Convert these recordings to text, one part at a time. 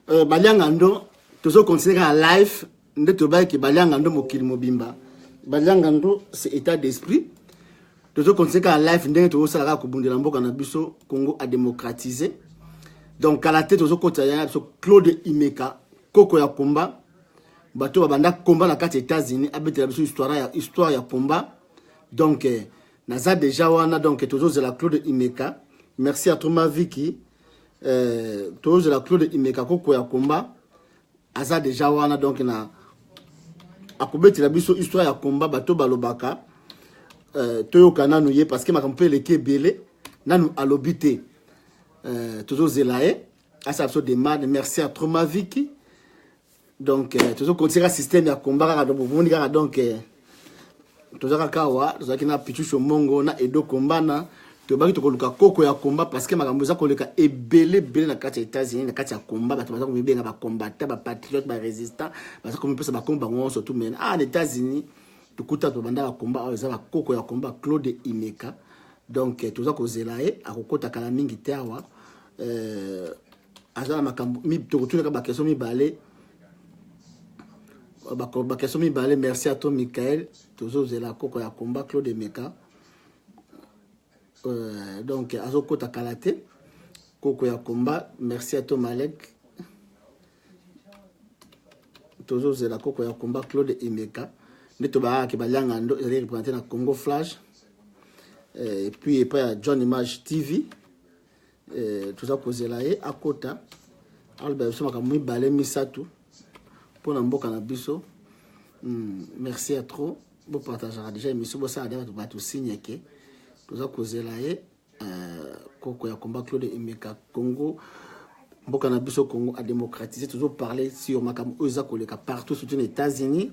Euh, balianga ndo tozo considere kaka life nde toyebaki ke balianga ndo mokili mobimba balianga ndo c'est état d'esprit tozo considere kaka life ndenge tozosala kaka kobundela mboka na biso congo a démocratise donc kala te tozokotisa yanga na biso claude imeka koko ya combat bato babanda combat na kati ya états-unis abetela biso histoire ya, histoire ya combat donc eh, naza deja wana donc tozozela claude imeka merci à troma viki eh, tozela claude imeka koko ya komba aza deja wana donc na akobetela biso histoire ya komba bato balobaka eh, toyoka nanu ye parce que makambo mpe eleki ebele nanu alobi te eh, tozozela ye asala biso demande merci ya tromaviki donc euh, tozo continue kaka système ya combat kaka donc bomoni kaka donc euh, toza kaka awa tozalaki na pichucho mongo na edo kombana tobaki tokoluka koko ya combat parce que makambo eza koleka ebele ebele na kati ya états-unis na kati ya combat bato baza komibenga bacombattant bapatriote barésistant baza komipesa bakombo bango nyonso tu mena ah na états-unis tokuta tobanda bakomba oyo eza bakoko ya komba claude imeka donc euh, toza kozela ye akokota kala mingi te awa euh, aza na makambo tokotunaka bakestion mibale bakestion mibale merci ato michael tozozela koko ya combat claude emeka euh, donc azokota kala te koko ya combat merci ato malek tozozela koko ya combat claude emeka nde tobayaki balianga ndo ezali représente na congo flash euh, et puis epai ya john image tv eh, toza kozela ye akota aloba biso makambo mibale misato mpo na mboka na biso hmm, merci ya trop bopartageaka déjà émission bosala deja bato signe ke toza kozela ye eh, koko ya combat claude emeka congo mboka na biso congo adémocratise tozoparle sur makambo oyo eza koleka partout surtout na états-unis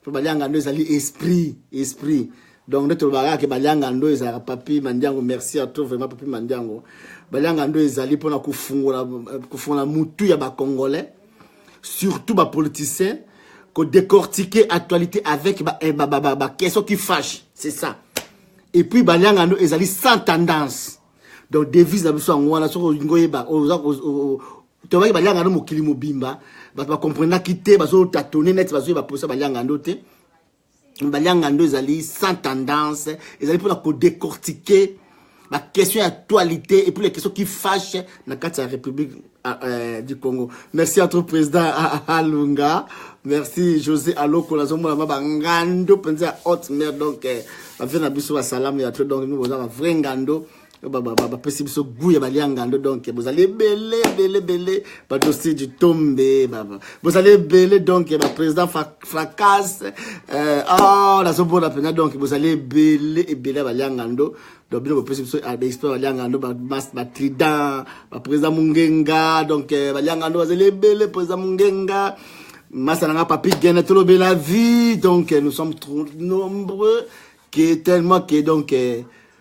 mpo baliangando ezali esprit esprit donc nde tolobaka kaka ke baliangando ezalaka papi mandiango merci à toi vraiment papi mandiango baliangando ezali mpona kofungola kofungola mutu ya bacongolais surtout bapoliticien kodécortiquer actualité avec baquestion ba, ba, ba, ba, qui fâche c'est ça et puis baliangando ezali sans tendance donc devise na biso yango wana soki olingi oyeba tobaki baliangando mokili mobimba bato bakomprenaki te bazotatone neti bazoyeba mposa baliangando te baliangando ezali sans tendance ezali mpona kodecortike baquestion ya actualité et puis les questions qui fâche na kati ya république ah, euh, du congo merci entre président alunga merci josé aloko nazomona ma bangando mpenza ya haute mare donc euh, bavie na biso basalamu ya to donc mimi boza bavrai ngando bapesi biso gu ya balia ngando donk bozali ebele ebele ebele badosi du tombe baba bozali ebele donk baprésident fracas euh, ah, nazomona mpenza donk bozali ebele ebele ya balia ngando donc bino bopesi biso ah, baexpert balia ngando batrident baprésident mongenga donk euh, balia ngando bazali ebele président mongenga masa na nga papi gene tolobela vie donc euh, nous sommes trop nombreux que tellement que donc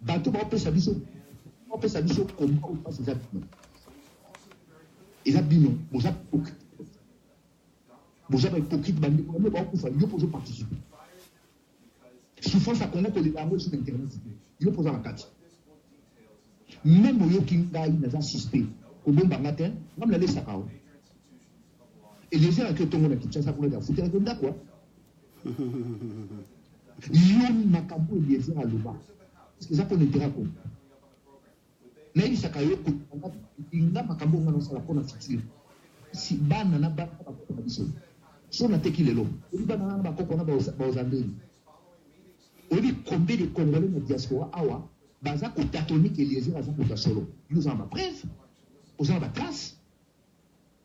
bato baopesa biso baopesa biso koma oyo mpasi eza bino eza bino boza boza bahypocrite bandeko bamio baokufa yo mpo ozoparticipe souffrance ya kongo kolela yango esi na internet te yo mpo oza na kati meme oyoki ngai naza suspect kobomba nga te nga mnalesaka o eliezer ake otongo na kinshasa kuna te afutelaki ndako yo makambo oyo eliezer aloba eza mpo na intera congo nayebisaka yo kolinga makambo onga nasala mpo na futur si bana na bana bakoko na biso so nateki lelo oyebi bana na bakoko na baozandeli oyebi kombe de congolais na diaspora awa baza kotatonike eliezer aza moto ya solo yo oza na bapreve oza na batrace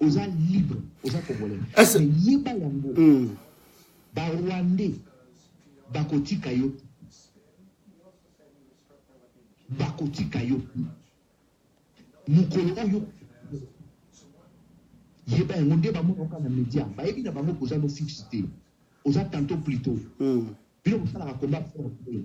oza libre oza congolais Est-ce- mais yeba yango Mm. barwandais bakotika yo bakotika yo mokolo oyo yeba yango nde bamonoka na media bayebi na bango koza no fixe te oza tanto plito Mm. bino bosalaka combat fort te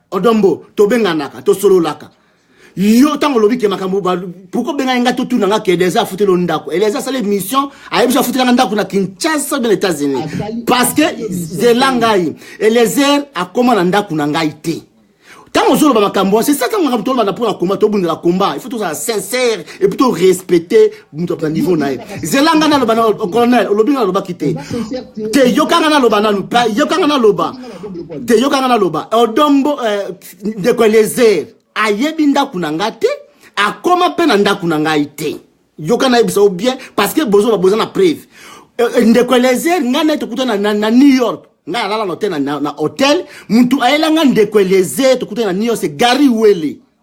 Odon Mbo, tobenganaka, tosololaka. yo ntango olobi ke makambo pourkoi obengaki ngai totuna nga ke eliezer afuteli yo ndako eliezer asala émission ayebisi afutela nga ndako na kinshasa bien états-unis parce que zela ngai eliezer akoma na ndako na ngai te ntango ozoloba makambo wana c'est ça ntango makambo tolobana mpo na komba tobundela komba il faut tozala sincère et puis torespecte moto na niveau na ye zela ngai naloba na colonel olobi ngai nalobaki te te yoka ngai naloba nanu yoka ngai naloba te yoka ngai naloba odombo eh, ndeko elezer ayebi ndako na ngai te akoma mpe na ndako na ngai te yoka nayebisa yo bien parce que bozoba boza na preuve eh, eh, ndeko elezer ngai naye tokutana na new york ngai alala na hotel na hotel motu ayela ngai ndeko elezer tokutana na new york se gary wele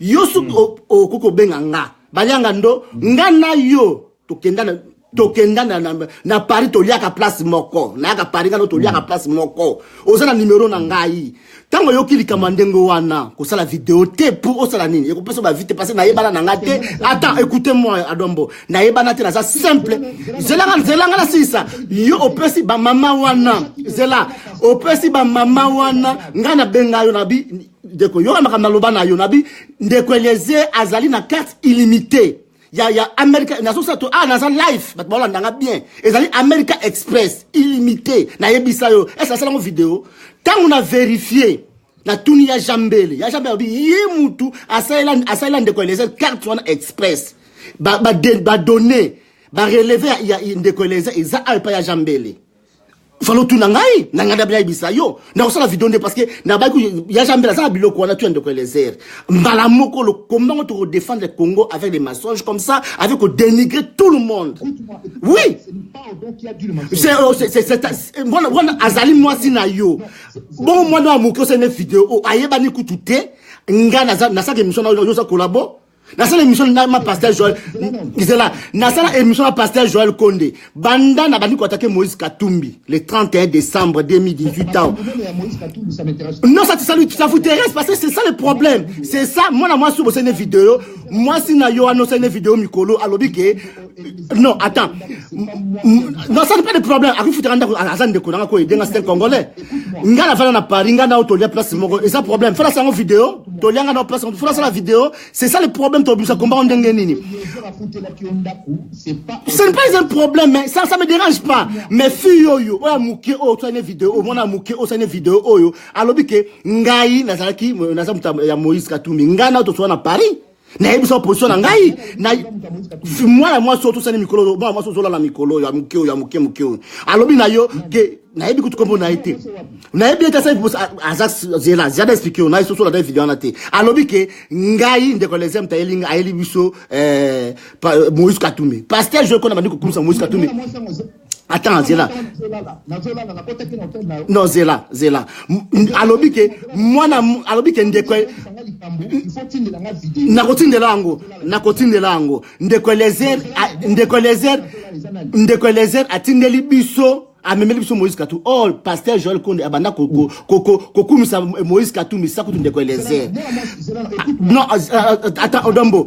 yo soki hmm. okoki kobenga nga balianga ndo nga na yo tokenda na tokenda na, na, na paris toliaka place moko nayaka paris ngano toliaka hmm. place moko oza na numero na ngai ntango oyoki likambo ya ndenge wana kosala video te pour osala nini ekopesa bavite parce nayebana na ngai te ata écoute moi adombo nayebana te naza simple zelanga zelanga nasilisa yo opesi bamama wana zela opesi bamama wana ngai nabenga yo na bi ndeko yoka makambo naloba na yo nabi ndeko eliezer azali na carte illimité ya, ya america nazosala to ah naza life bato baolanda nga bien ezali america express illimité nayebisa yo ese asala yango video ntango na verifie natuni ya jambele ya jambele abi ye mutu asalela, asalela ndeko eliezer carte wana express badonne ba, ba, ba bareleve ya, ya ndeko eliezer eza ayo epai ya jambele falo tuna ngai na ngai ndabina yebisa yo nakosala video nde parce que nabaki ya jambela aza na biloko wana tu ya ndeko elezer mbala moko lokomba ngo tokodefendre congo avec des mensonges comme ça avec kodénigrer tout le monde oui wana azali mwasi na yo bongo mwana ya moke osene video oyo ayebani kutu te ngai nasaka émission na yo oza kolabo nasala émission na ma pasteur joel zela nasala émission na pasteur joel konde banda na bandi koatake moïse katumbi le 31 décembre 2018 ans non ça ça lui ça vous intéresse parce que c'est ça le problème c'est ça mwana mwasi obosani vidéo mwasi na yo anosani vidéo mikolo alobi ke non attends non ça n'est pas de problème akofutaka ndako aza ndeko nanga koyede nga stel congolais nga na fana na paris nga nao tolia place moko eza problème fana sango video tolia nga nao place moko fana sala video c'est ça le problème tobimisa kombao ndenge nini ce n'est pas un problème mais ça ça me dérange pas mais fille oyo oyo amuke oyo tosani video oyo mwana amuke oyo tosani video oyo alobi ke ngai nazalaki naza moto ya moïse katumbi ngai nao tosoa na paris nayebisa position na ngai na mwana mwasi oyo tosani mikolo oyo mwana mwasi ozolala mikolo oyo ya moke oyo ya moke moke oyo alobi na yo ke nayebi kutu kombo na ye te nayebi ete asali aza zela zela explike yo na esoso na video wana te alobi ke ngai ndeko lesem tayeli ngai ayeli biso eh, moïse katumbe pasteur joe kona bandi kokumisa moïse katumbe attends zela non zela zela alobi ke mwana alobi ke ndeko nakotindela yango nakotindela yango ndeko elezer ndeko elezer ndeko elezer atindeli biso amemeli biso moïse katou or oh, pasteur joel konde abanda kokumisa moïse katumbi sa kutu ndeko eliezer non ata odombo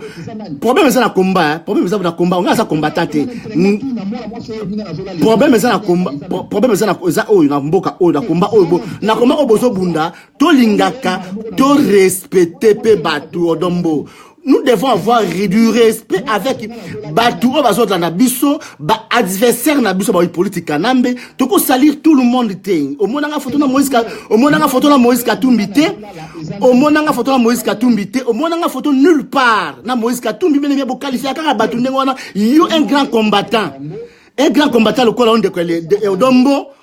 problème eza na combat problème eza na combat onga aza combattant te problème eza na combat problème eza na eza oyo na mboka oyo na combat oyo na combat oyo bozobunda tolingaka torespecte mpe bato odombo nous devons avoir du respect avec bato oyo bazolanda biso baadversaire na biso baoyi politike kanambe tokosalir tout le monde te omonanga foto na moïse omonanga foto na moïse katumbi te omonanga foto na moïse katumbi te omonanga foto nulle part na moïse katumbi bene bie bokalifia kaka bato ndenge wana yo un grand combattant un grand combattant lokola yo ndeko ya odombo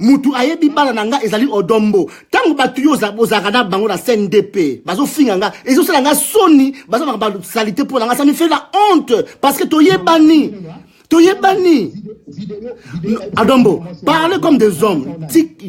mutu ayebi bana na nga ezali odombo ntango bato yo ozalaka na bango na cndp bazofinga nga ezosala nga soni bazalaka basalite mpo na nga sami fait la honte parce que toyebani toyebani adombo parle comme des hommes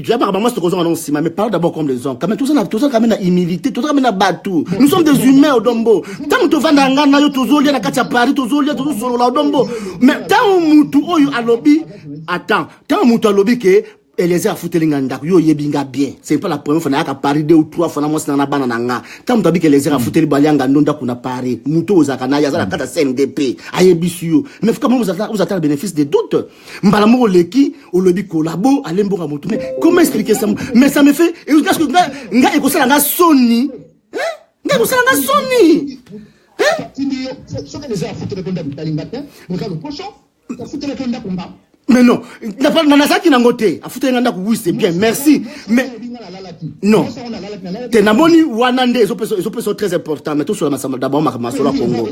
jabaka bango soki ozonga nango nsima mais parle d'abord comme des hommes kame tozala kame na humilité tozala kame na bato nous sommes des humains odombo ntango tovanda nga na yo tozolia na kati ya paris tozolia tozosolola odombo mais ntango mutu oyo alobi attends ntango moto alobi ke eliezer afuteli nga ndako yo oyebi nga bien c'est pas la première fois nayaka paris deux ou trois fois na mwasi nanga na bana na nga ntango moto abiki eliezer afuteli hmm. balianga ndo ndako na paris moto oyo ozalaka naye aza na hmm. kati ya cndp ayebisi yo mais kama ozata na bénéfice de doute mbala moko oleki olobi kolabo alemboka moto mais comment expliquer ça mais ça me fait nga ekosala nga soni nga ekosala nga soni soki eliezer afuteli ko ndako talinga te moza lokoso mais non nazalaki nango te afuteli nga ndako oui c'est bien merci mais non te namoni wana nde ezopesa très important mais tosola masamba d'abord makambo ya solo ya congo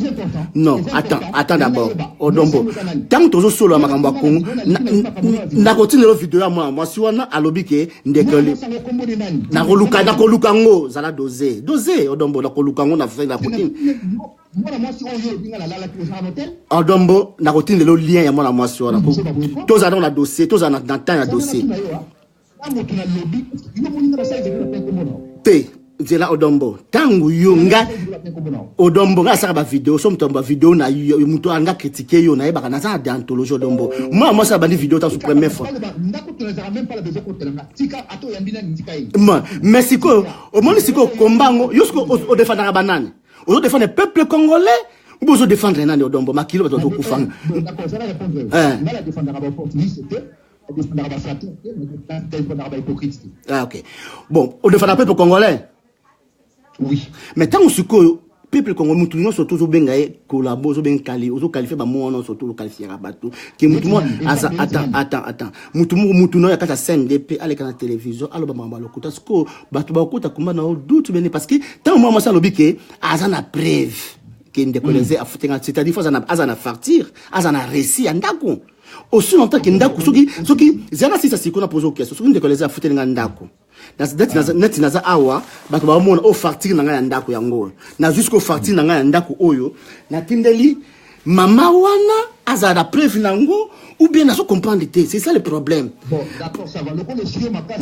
non attends attends d'abord odombo oh, ntango tozosolola makambo ya congo nakotindelo video ya mwana mwasi wana alobi ke ndekeli nakoluka nakoluka yango zala dose dose odombo oh, nakoluka yango na fai nakotini mwana mwasi oyo olobi nga nalalaki ozala na hotel adombo nakotindela yo lien ya mwana mwasi wana tozala nao na dossier tozala na temps ya dossier te nzela odombo ntango yo nga odombo nga asaka bavideo so moto ya bavideo na yo moto anga kritike yo nayebaka naza na deantologie odombo mwana mwasi abandi video tanso première fois mais sikoyo omoni sikoyo komba yango yo siko odefandaka banani ozo defendre peuple congolais ou bozo defendre nani odombo makilo bato bazokufanga ah, ok bon odefanda peuple congolais oui mais ntango sikoyo peuple kongo mutu nyonso to ozobenga ye kolabo ozobenga kali ozokalifie bamoko nyonso to ozokalifiaka bato ke mutu moko aza attend attend attend mutu moko mutu nayo ya kati ya cndp aleka na televizio aloba makambo ya lokuta sikoyo bato bakota kumba na yo dutu bene parce que ntango mwana mwasi alobi ke aza na preuve ke ndeko mm. leze afute nga c'est-à-dire fo aza na facture aza na récit ya ndako osi na ntanke ndako soki soki zala sisa siko na poza okesa soki ndeko leze afuteli nga ndako neti naza awa bato baomona o oh, facture na ngai ya ndako yango oyo nazwi siko facture na ngai ya ndako oyo natindeli mama wana azala na preuve na yango ou bien nazo comprendre te c'est ça le problème bon d'accord ça va lokola esiyo makasi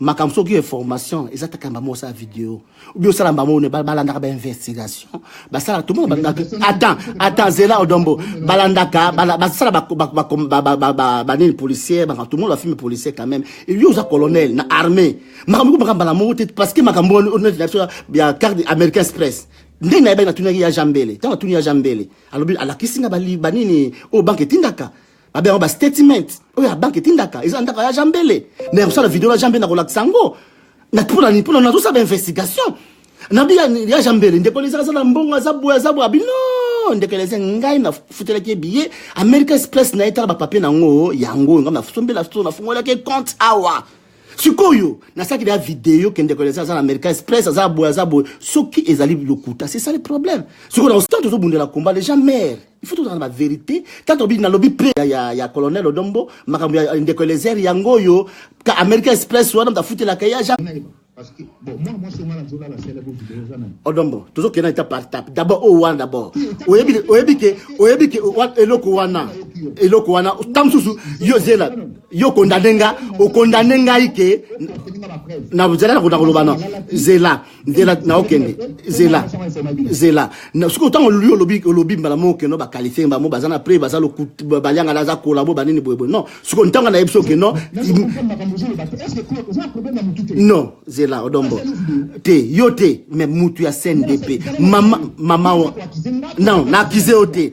makambo soki yo information eza taka mbamo osala video obi osala mbamo ne balandaka bainvestigation basala tout monde balingaka attends attends zela odombo balandaka basala banini policier baka tout monde bafilme policier quand même yo oza colonel na armée makambo eko makambo mbala moko te parce que makambo oneti na biso ya carte américain express ndenge na yebaki natunaki ya jambele ntango atuni ya jambele alobi alakisi nga banini oyo banke etindaka babe yango bastatement oyo ya banke etindaka eza na ndako ya jambele me ya kosala video na jambele na kolakisa yango mpona nazosala bainvestigation nabi ya jambele ndeko lezaka aza na mbongo aza boye aza boye abino ndeko eleze ngai nafutelaki ye biye america express na ye tala bapapie na yango yango ngai nasombela so nafungolaki ye compte awa sikoyo nasalaki deya video ke ndeko eleze aza na america express aza boye aza boye soki ezali lokuta c'est ça le problème sikoyo na osi ntango tozobundela combat les gens mare il faut tozala na baverité ntango tobi nalobi pre ya, ya, ya colonel odombo makambo ya ndeko elezer yango oyo ka america express wana moto afutelaka ye aja odombo tozokenda eta par tape d'abord oyo wana d'abord oyebi ke oyebi ke eloko wana eloko wana ntango mosusu yo zela yo okondane nga okondane ngai ke na zela nakondakoloba na zela nzela na okende zela zela soki otango oluli olobi olobi mbala moko okende bakalifie bango baza na pre baza baliangana aza kolabo banini boyeboye non soki ntango nayebi so oke non non zela odombo te yo te mais mutu ya cndp mama mama non na akize yo te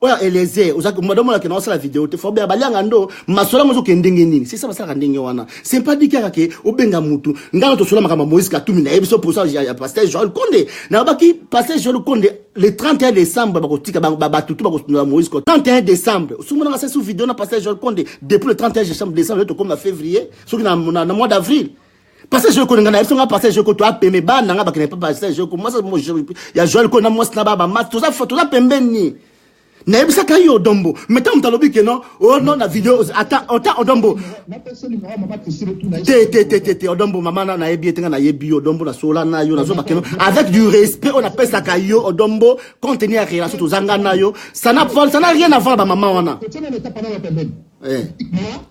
oyo eliezer ozaki madame olaki na osala video te fobe abalianga ndo masola ngo ozokende ndenge nini sesa basalaka ndenge wana sempa diki kaka ke obenga mutu ngai na tosola makambo ya moïse katumi nayebi so posa ya pasteur joel konde nayebaki pasteur joel konde le 31 décembre bakotika bato to bakosundola moïse ko 31 décembre osomonaka sasi video na pasteur joel konde depuis le 31 décembre nde tokomi na février soki na mois d'avril pase jeko ninga na biso nga pase jeko to apeme bana nga bakene papa pase jeko mwasa ya joel ko na mwasi na baba mas toza toza pembeni nayebisaka ye odombo me ntango moto alobi ke non o oh, non na video ata ota odombo te te te te te odombo mama na nayebi ye te nga nayebi yo odombo nasola na yo nazoba keno avec du respect oyo napesaka yo odombo compte tenu ya relation tozanga na yo sana rien avant bamama wana eh.